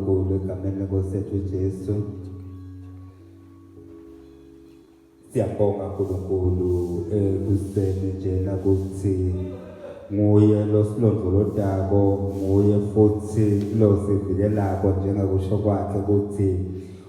Nkulu egameni lenkosi yethu uJesu. Siyabonga Nkulunkulu ekuseni njena kuthi nguye losilondolodako nguye futhi losivikelako njengakusho kwakhe ukuthi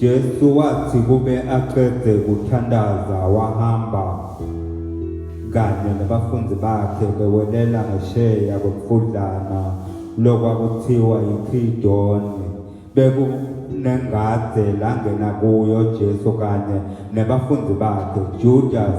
Jesu wathi kube aqede kuthandaza wahamba kanye nabafundi bakhe bewelela ngesheya kwemfudlana lokwakuthiwa yiKhidoni bekunengade langena kuyo Jesu kanye nabafundi bakhe Judas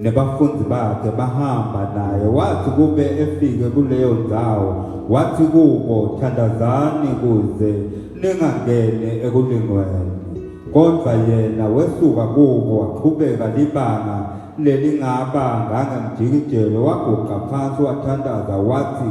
nebafundi bakhe bahamba naye wathi kube efike kuleyo ndawo wathi kubo thandazani kuze ningangene ekulingweni kodwa yena wesuka kubo waqhubeka libanga lelingaba ngangemjikijelo waguqa phansi wathandaza wathi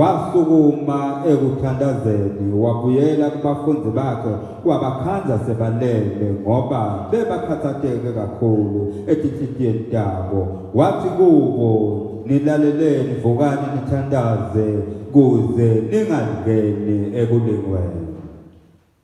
Wasukuma ekuthandazeni wabuyela kubafundi bakhe wabakhandla sebalele ngoba bebakhathateke kakhulu etinhlitiyeni tabo. Wathi kubo, Nilaleleni, vukani nithandaze kuze ningalingeni ekulingweni.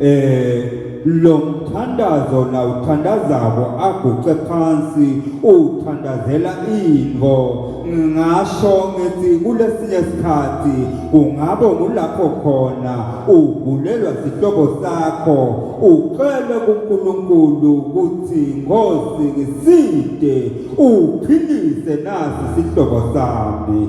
eh lo mthandazo la uthandazako aguqe phansi uthandazela into ngingasho ngithi kulesinye isikhathi kungabo kulapho khona ugulelwa sihlobo sakho ucele kuNkulunkulu ukuthi ngosi ngiside uphilise nasi sihlobo sami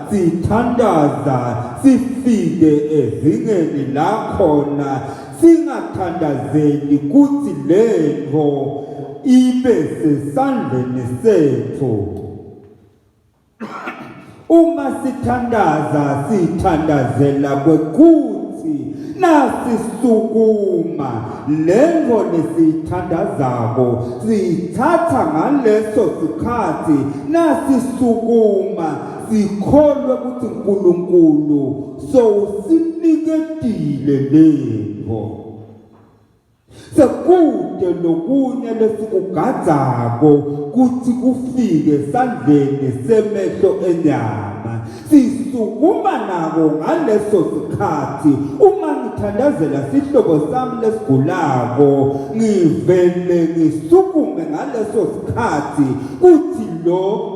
sithandaza sifike ezingeni la khona singathandazeli ukuthi le nto ibe sesandleni sethu uma sithandaza sithandazela kwekuthi nasisukuma lento nesithandazako sithatha ngaleso sikhathi nasisukuma sikholwe ukuthi uNkulunkulu sowusiniketile lento sekude lokunye lesikugadzako kuthi kufike sandleni semehlo enyama sisukuma nako ngaleso sikhathi uma ngithandazela sihlobo sami lesigulako ngivele ngisukume ngaleso sikhathi kuthi lo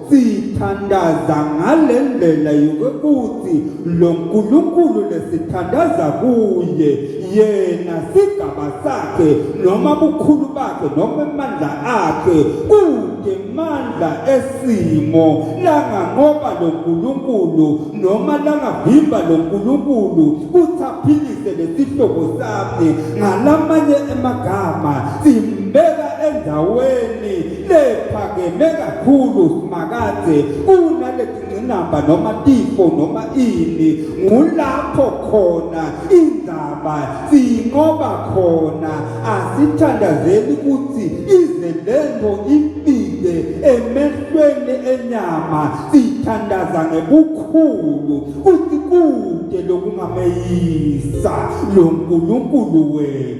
Sithandaza ngale ndlela yokuthi lo Nkulunkulu lesithandaza kuye yena sigaba sakhe noma bukhulu bakhe noma amandla akhe kude mandla esimo langa ngoba lo Nkulunkulu noma langa vimba lo Nkulunkulu uthaphilise lesihlobo sakhe ngalamanye emagama simbeka endaweni lephakeme kakhulu simakade unalezingcinamba noma tifo noma ini ngulapho khona indaba sinqoba khona asithandazeli ukuthi ize lento impile emehlweni enyama sithandaza ngebukhulu ukuthi kude lokungameyisa lo nkulunkulu wethu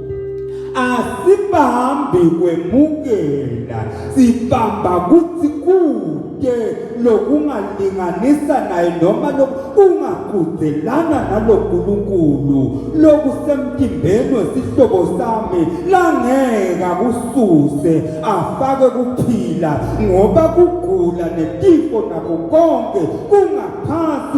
asibambi kwemukela sibamba kuthi kude lokungalinganisa naye noma lokungaqhudelana naloNkulunkulu lokusemtimbeni wesihlobo sami langeka kususe afake kuphila ngoba kugula netifo nako konke kungaphansi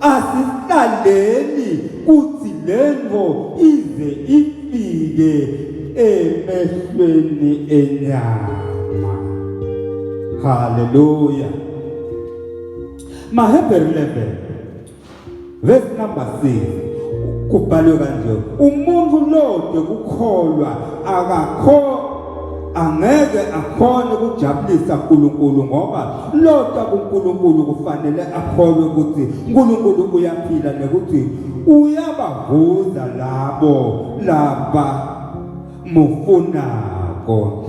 Asihlaleni kuthi lento ize ifike emehlweni enyama. Haleluya. Mahebheru 11 verse number 6 kubhalwe kanje umuntu lode kukholwa akakho angeke akhone ukujabulisa uNkulunkulu ngoba lota kuNkulunkulu kufanele akholwe ukuthi uNkulunkulu uyaphila nekuthi uyabavuza labo laba mufunako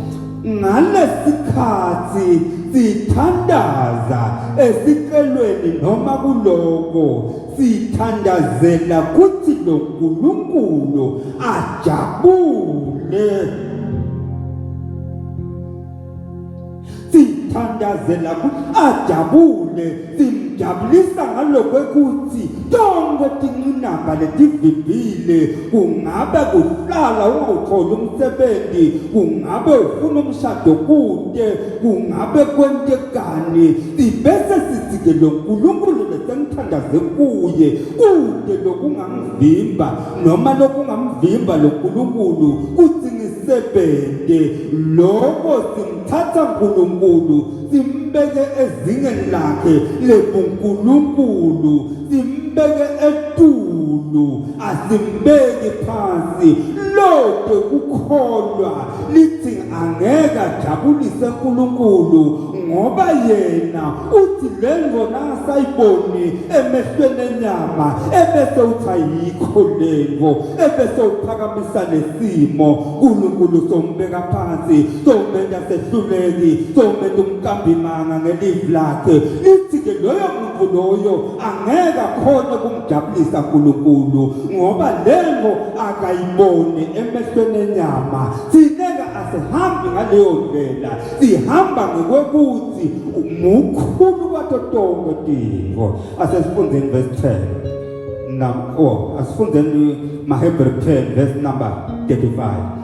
ngalesikhathi sithandaza esicelweni noma kuloko Sithandazela kuthi lo Nkulunkulu ajabule. Sithandazela kuthi ajabule simjabulisa ngalokwekuthi tonke tinqinamba letivimbile kungabe kuhlala ungawutholi umsebenzi kungabe ufuna umshado kude kungabe kwentekani sibese sithi-ke lo nkulunkulu besengithandaze kuye kude lokungangivimba noma lokungamvimba lo nkulunkulu kuthi ngisebende loko simthatha nkulunkulu simbeke ezingeni lakhe lebunkulunkulu simbeke etulu asimbeki phansi lode kukholwa lithi angeke ajabulise uNkulunkulu ngoba yena uthi le ngona asayiboni emehlweni enyama ebese uthi ayikho lengo ebese uphakamisa lesimo uNkulunkulu sombeka phansi somenza sehluleki somenza umkambimanga ngelive lakhe lithi ke loyo muntu loyo angeke akhona jabulisa nkulunkulu ngoba lento akayiboni emehlweni enyama sineka asihambi ngaleyo ndlela sihamba ngokwekuthi mukhulu kwato tonke tingo asesifundeni verse 10 nam oh asifundeni mahebrew 10 verse number 35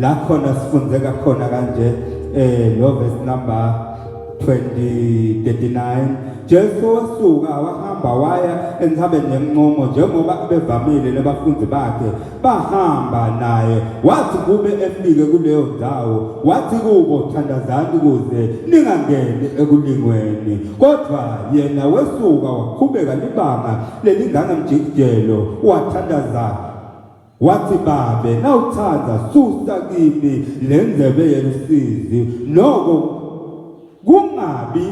la khona sifundeka khona kanje eh lo verse number 2039 Jesu wasuka wahamba waya enthabeni yencomo njengoba abevamile nabafundi bakhe bahamba naye wathi kube efike kuleyo ndawo wathi kubo thandazani kuze ningangeni ekulingweni kodwa yena wesuka waqhubeka libanga lelinganga mjikijelo wathandaza Wathi, Babe, nawuthanda, susa kimi le ndlebe yelusizi, noko kungabi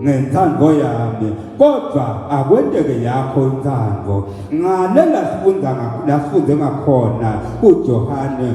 ngentando yami kodwa akwenteke yakho intando ngale lasifunda lasifunde ngakhona uJohane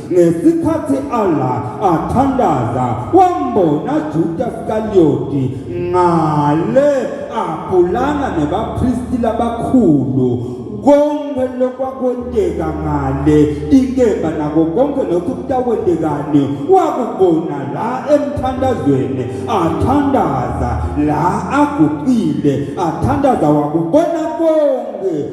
Ngesikhathi Allah athandaza wambona Juda Iskariyoti ngale abhulana nebapristi labakhulu konke lokwakwenteka ngale inkemba nako konke lokhu kutawentekani wakubona la emthandazweni athandaza la aguqile athandaza wakubona konke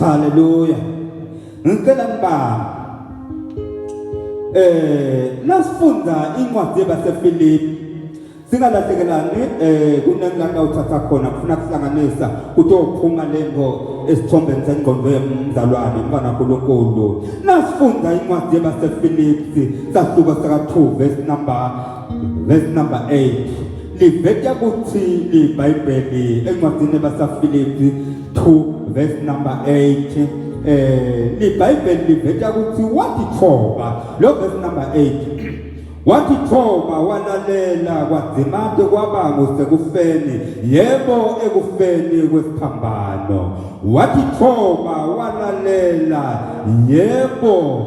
Haleluya. Ngicela ngibamba. Eh, nasifunda incwadi yabaseFilipi singalahlekelani eh kunengaka uthatha khona kufuna kuhlanganisa kutophuma lento esithombeni sengqondo yomzalwane mfana uNkulunkulu nasifunda incwadi yabaseFilipi sahluko saka 2 verse number Verse number 8 liveta ukuthi iBhayibheli encwadini yabasaFilipi 2 verse number 8 eh iBhayibheli liveta ukuthi wathi thoba lo verse number 8 wathi thoba walalela kwadzimate kwaba ngusekufeni yebo ekufeni kwesiphambano wathi thoba walalela yebo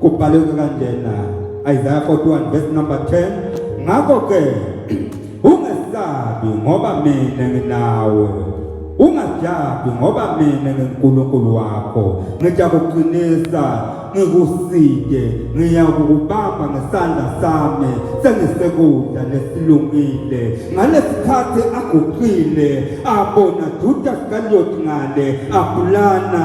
kubhaleke kanjena Isaiah 41 verse number 10 ngakho ke ungesabi ngoba mina nginawe ungajabi ngoba mina nginkulunkulu wakho ngijakuqinisa ngikuside ngiyakukubamba ngesandla sami sengisekudla nesilungile ngalesikhathi aguqile abona Judas kaLoti ngale abulana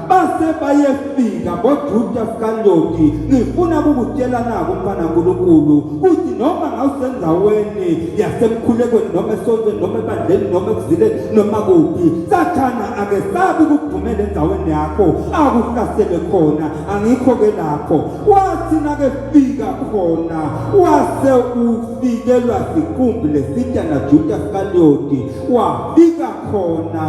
base bayefika ngojuda sikandoti ngifuna ukukutshela nako mfana nkulunkulu ukuthi noma ngawusendaweni yasemkhulekweni noma esontweni noma ebandleni noma ekuzileni noma kuphi sathana ake sabi ukugxumela endaweni yakho akuhlasele khona angikho-ke lapho wathi nakefika khona wase ufikelwa siqumbi lesitya najuda sikandoti kwafika khona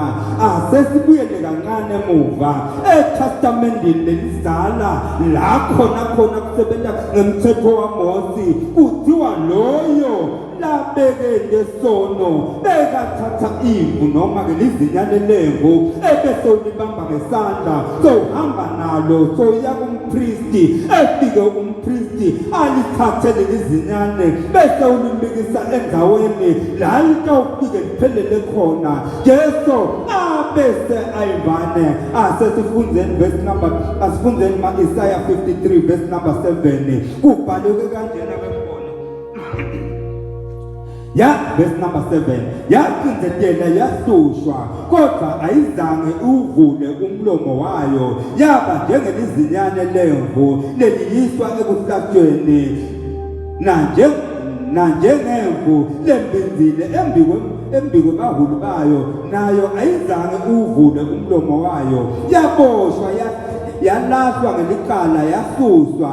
asesibuyele kancane emuva etestamendini lelizala la khona khona kusebenza ngemthetho wamosi kuthiwa loyo labeke ngesono bekathatha imvu noma-ke lizinyane lemvu ebese ulibamba ngesandla sohamba nalo soya kumpristi efike um Kristi alithathe lelizinyane bese ulimbikisa endaweni la litawufike liphelele khona Jesu abese ayivane asesifundeni verse number asifundeni ma Isaiah 53 verse number 7 kubhaleke kanjena ya verse number 7 yacindezela yahlushwa kodwa ayizange uvule umlomo wayo yaba njengelizinyane lemvu leliyiswa ekuhlatshweni nanje nanjengemvu lembinzile embikwe embikwe bahulu bayo nayo ayizange uvule umlomo wayo yaboshwa yalahlwa ngelicala yasuswa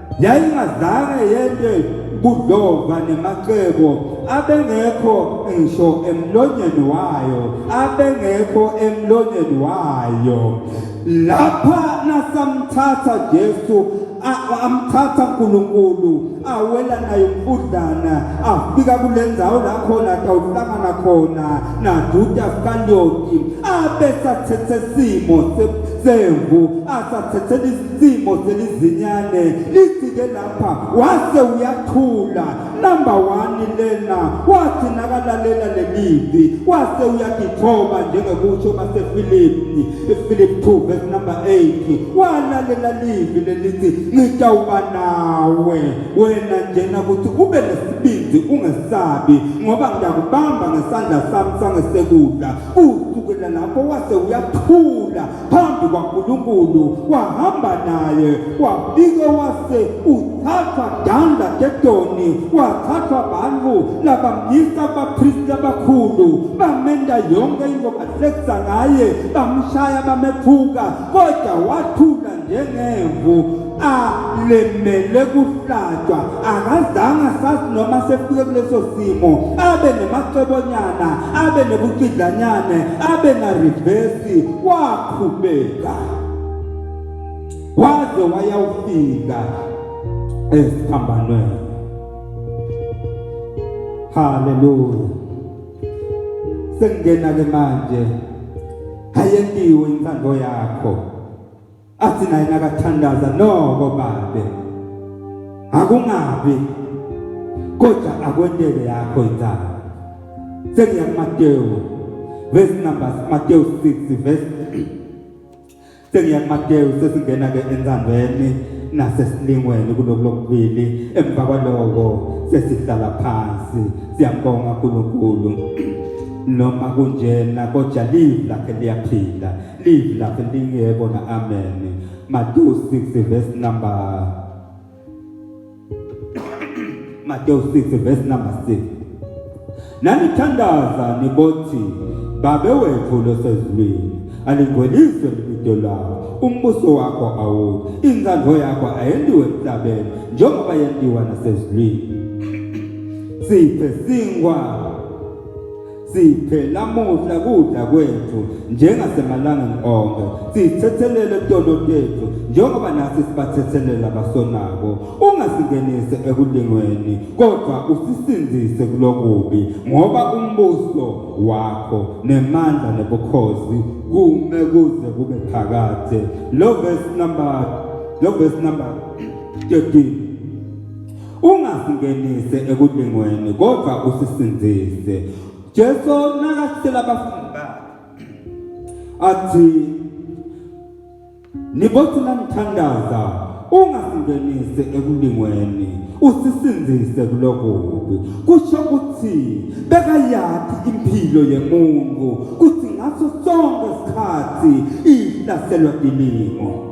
yayingazange yende kudlova nemacebo abengekho ngisho emlonyeni wayo abengekho emlonyeni wayo lapha nasamthatha Jesu amthatha uNkulunkulu awela naye umfudlana afika kulenzawo la khona tawuhlangana khona naJuda Iskariyoti abe sathethe simo semvu asathethe simo selizinyane lifike lapha wase uyathula number one lena wathi nakalalela lelivi wase uyagithoba njengekusho basefilipi ifilipi 2 verse number 8 walalela livi lelithi ngitawuba nawe wena njena ukuthi ube nesibindi ungesabi ngoba ngiyakubamba ngesandla sami sangesekudla usukela lapho wase uyathula phambi kwaNkulunkulu wahamba naye wafike wase uthathwa danda ketoni wathathwa bantu labamyisa abapristi abakhulu bamenda yonke into bahlekisa ngaye bamshaya bamephuka kodwa wathula njengemvu alemele kuhlatshwa akazange asazi noma sefike kuleso simo abe nemacebonyana abe nebucidlanyane abe narivesi waqhubeka waze wayawufika esiphambanweni haleluya sengena ke manje hayendiwe intando yakho athi naye nakathandaza noko babe akungabi kodwa akwentele yakho inzalo sekuya kuMateyu verse number Mateyu 6 verse sekuya kuMateyu sesingena ke entsandweni nasesilingweni kuloko lokubili emva kwaloko sesihlala phansi siyambonga uNkulunkulu noma kunjena kodwa live lakhe liyaphila live lapho lingekho na amen Matthew 6 verse number Matthew 6 verse number 6 Nanithandaza nibothi babe wethu losezulwini alingweliswe libido lawo umbuso wakho awuyi inzandvo yakho ayendiwe emhlabeni njengoba yendiwa nasezulwini siphe singwa siphe namuhla kudla kwethu njengasemalangeni onke sithethelele kutono tethu njengoba nathi sibathethelela abasonako ungasingenise ekulingweni kodwa usisinzise kulokubi ngoba umbuso wakho nemandla nebukhosi kume kuze kube phakade lo verse number lo verse number 13 ungasingenise ekulingweni kodwa usisindise Jesu nakasitshela abafundi bakhe athi nibothi namthandaza ungasingenise ekulingweni usisindise kuloko kubi kusho ukuthi bekayathi impilo yemuntu kuthi ngaso sonke isikhathi ihlaselwa dilimo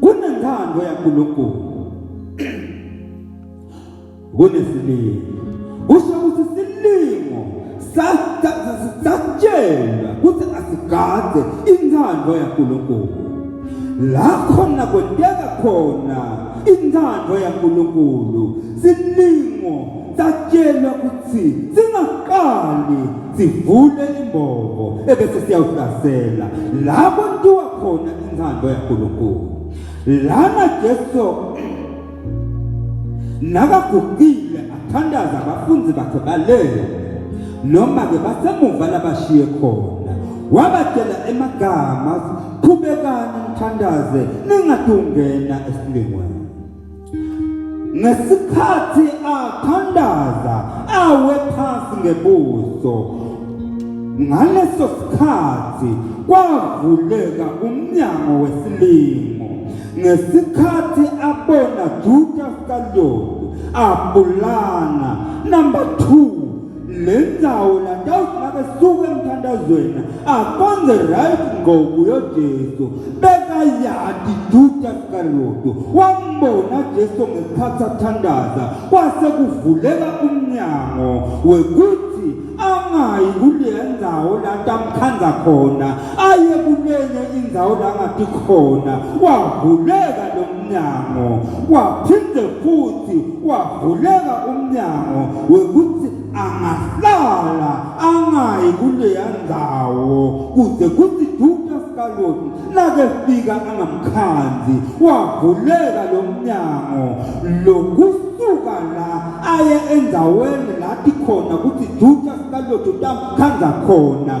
kunentando yaNkulunkulu kunesilingo kusho ukuthi isilingo satshela ukuthi asigade intando yaNkulunkulu la khona kwenteka khona intando yaNkulunkulu silingo satshelwa ukuthi singaqali sivule imbobo ebese siyawuhlasela lapho ntiwa khona inthando yaNkulunkulu lana Jesu nakagugile athandaza abafundi bakhe balele noma ke basemuva labashiye khona wabatshela emagama qhubekani mthandaze ningadungena esilingweni ngesikhathi athandaza awe phansi ngebuso ngaleso sikhathi kwavuleka umnyango wesilingo ngesikhathi abona Judas Iscariot abulana number 2 le ndawo latawuthi nakesuka emthandazweni akwenze right ngoku yojesu bekayati juda sikaloto wambona jesu ngesikhathi athandaza kwase kuvuleka umnyango wekuthi angayi kuleya ndawo lanto amkhandza khona aye kulenye indzawo langati khona wavuleka lo umnyango waphinde futhi wavuleka umnyango wekuthi angahlala angayi kuleya ndawo kuze kuthi duke sikaloti nakefika angamkhandzi wavuleka lo mnyango lokusuka la aye endaweni lathi khona kuthi duke sikaloti utamkhandza khona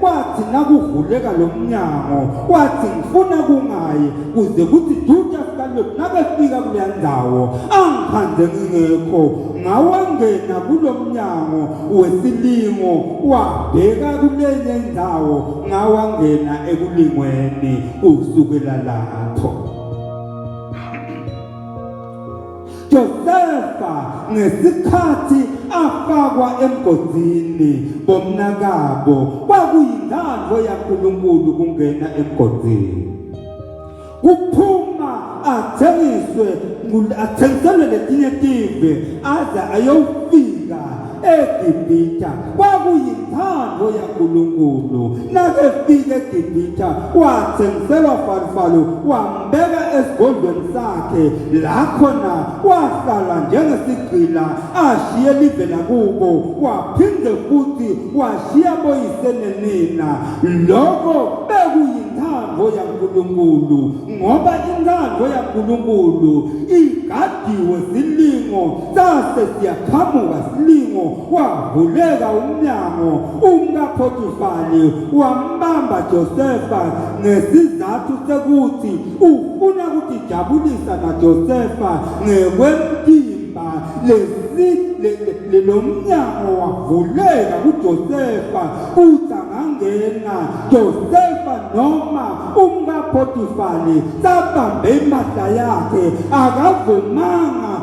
Kwathi nakuvuleka lo mnyango, wathi ngifuna kungayi kuze kuthi duty after lokhu nabefika kuleya ndawo angikhandze ngingekho ngawangena kulo mnyango wesilingo wabheka kulenye indawo ngawangena ekulingweni kusukela lapho Josefa ngesikhathi afakwa emgodini bomnakabo kwakuyintando yaNkulunkulu kungena emgodini kuphuma athengiswe athengiselwe letinye tive aze ayofika eGibhithe kwakuyintando yaNkulunkulu nakefika eGibhithe wathengiselwa farifalo wambeka esigodlweni sakhe la khona wahlala njengesigqila ashiye live lakubo waphinde futhi washiya boyise nenina lokho bekuyintando yaNkulunkulu ngoba intando yaNkulunkulu igadiwe silingo sase siyaqhamuka silingo wavuleka umnyango umkaphotifali wambamba josefa ngesizathu sekuthi ufuna ukutijabulisa najosefa ngekwemtimba lesi lo mnyango wavuleka kujosefa kuthi angangena josefa noma umkaphotifali sabambe impahla yakhe akavumanga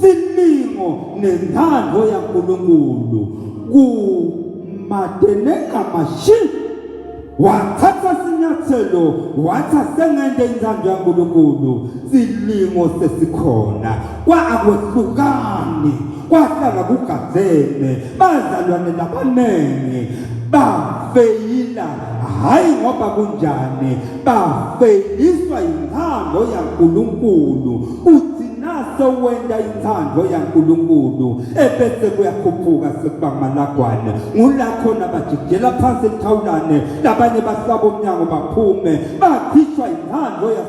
Ziningo nentando ya Nkulunkulu kumateneka mashi wathatha sinyathelo watha sengende intando ya Nkulunkulu silingo sesikhona kwa akwehlukani kwahlala kugazeme bazalwane nabaningi bafeyila hhayi ngoba kunjani bafeyiswa yinthando yankulunkulu uthi naso wenda inthando yankulunkulu ebese kuyakhuphuka sekuba malagwane ngula khona bajikijela phansi elithawulane labanye bahlaba umnyango baphume bakhishwa yinthando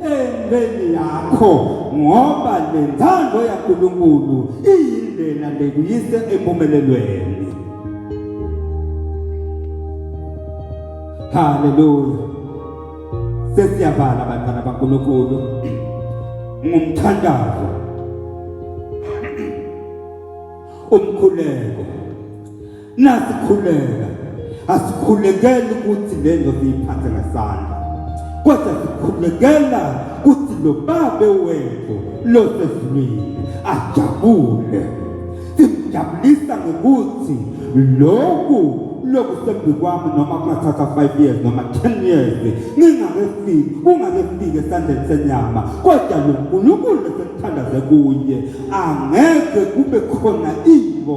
entweni yakho ngoba lentando yaNkulunkulu iyindlela lekuyise empumelelweni haleluya sesiyavala bantwana baNkulunkulu ngumthandazo umkhuleko Nasikhuleka asikhulekeli ukuthi le nto siyiphathe ngesandla kodwa sikhulekela ukuthi lo babe wethu losezulwini ajabule simjabulisa ngokuthi lokhu lokusembi kwami noma kungathatha 5 years noma 10 years ngingakefiki kungakefiki esandleni senyama kodwa lo nkulunkulu esekuthandaze kuye angeke kube khona into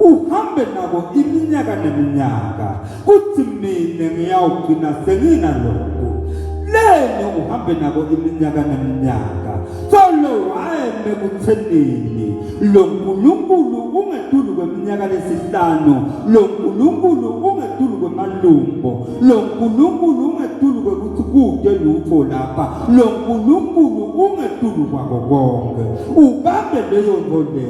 uhambe nako iminyaka neminyaka kuthi mina ngiyawugcina senginalokhu leni uhambe nako iminyaka neminyaka solo wayeme kuthenini lo nkulunkulu ungetulu kweminyaka lesihlanu lo nkulunkulu ungetulu kwemalumbo lo nkulunkulu ungetulu kwekuthi kude lutho lapha lo nkulunkulu ungetulu kwako konke ubambe leyo nto leyo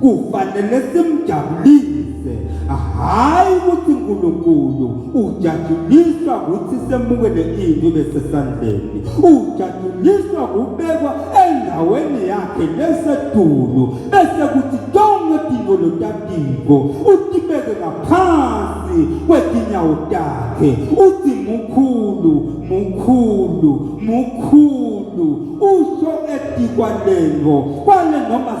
Kufanele simjabulise, hhayi ukuthi uNkulunkulu ujatshuliswa ukuthi semukele into ibe sesandleni. Ujatshuliswa kubekwa endaweni yakhe lesetulu bese kuthi tonke tingolo tatiko utibeke ngaphansi kwetinyawo takhe uthi mukhulu mukhulu mukhulu usho etikwa lengo kwale noma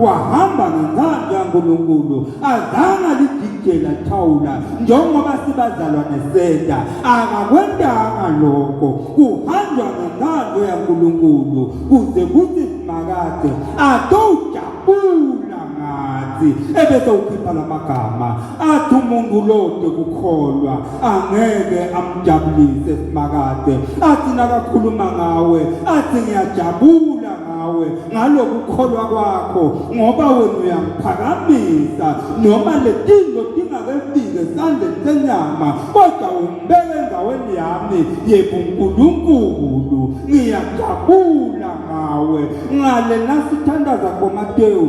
wahamba ngenkanda yaNkulunkulu azange lididela thawula njengoba sibazalwane seda akakwendanga lokho kuhanjwa ngenkando yaNkulunkulu kuze kuthi simakade atowujabula ngathi ebese ukhipha lamagama athi umuntu lode kukholwa angeke amjabulise simakade athi nakakhuluma ngawe athi ngiyajabula ngawe ngalokukholwa kwakho ngoba wena uyamphakamisa noma letinto tingakefike esandleni senyama kodwa umbeke endaweni yami yebo nkulunkulu ngiyajabula ngawe ngale nasithandaza komatewu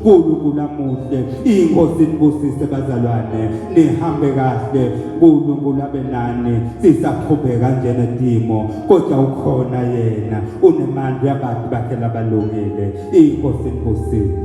Nkulunkulu amuhle inkosi nibusise bazalwane nihambe kahle Nkulunkulu abe nani sisaqhubeka njenedimo kodwa ukhona yena unemandla yabantu bakhe labalungile inkosi nibusise